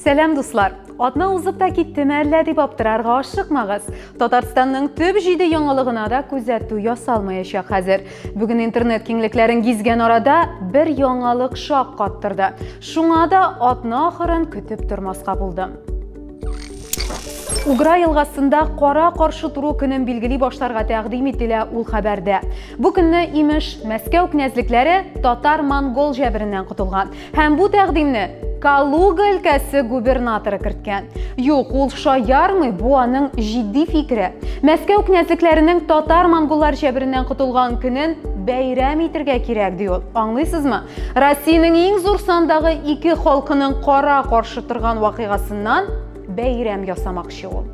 Сәлам, дуслар! Атна узып та киттеме әллә дип аптырарга ашыкмагыз. Татарстанның төп җиде яңалыгына да күзәтү ясалмаячак хәзер. Бүген интернет киңлекләрен гизгән арада бер яңалык шаккаттырды. Шуңа да атна ахырын көтеп тормаска булдым. Угра елгасында кара каршы туру көнен билгели башларга тәкъдим ителә ул хәбәрдә. Бу көнне имеш, Мәскәү князьлекләре татар-монгол җәбереннән котылган. Һәм бу тәкъдимне Калуга өлкәсе губернаторы керткән. Юк, ул шаярмый, бу аның җитди фикере. Мәскәү князьлекләренең татар-монголлар җәбереннән котылган көнен бәйрәм итергә кирәк, ди ул. Аңлыйсызмы? Россиянең иң зур сандагы ике халкының кара каршы торган вакыйгасыннан бәйрәм ясамакчы ул.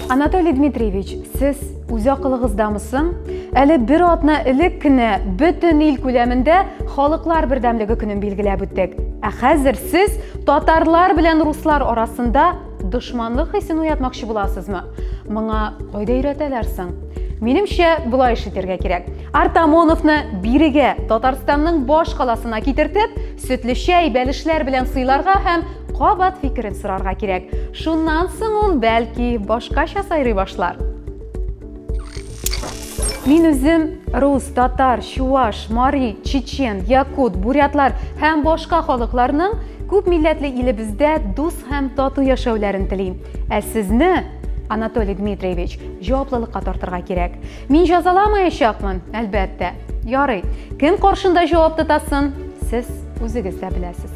Анатолий Дмитриевич, сез үз акылыгыздамы соң? Әле бер атна элек кенә бөтен ил күләмендә халыклар бердәмлеге көнен билгеләп үттек. Ә хәзер сез татарлар белән руслар арасында Дошманлык хисен уятмакчы буласызмы? Моңа кайда өйрәтәләр соң? Минемчә, болай эш итәргә кирәк. Артамоновны бирегә, Татарстанның баш каласына китертеп, сөтле чәй, бәлешләр белән сыйларга һәм кабат фикерен сорарга кирәк. Шуннан соң ул, бәлки, башкача сайрый башлар. Мин үзем рус, татар, чуваш, мари, чечен, якут, бурятлар һәм башка халыкларның күп милләтле илебездә дус һәм тату яшәүләрен телим. Ә сезне, Анатолий Дмитриевич, җаваплылыкка тартырга кирәк. Мин җазаламаячакмын, әлбәттә. Ярый, кем каршында җавап тотасын, сез үзегез дә беләсез.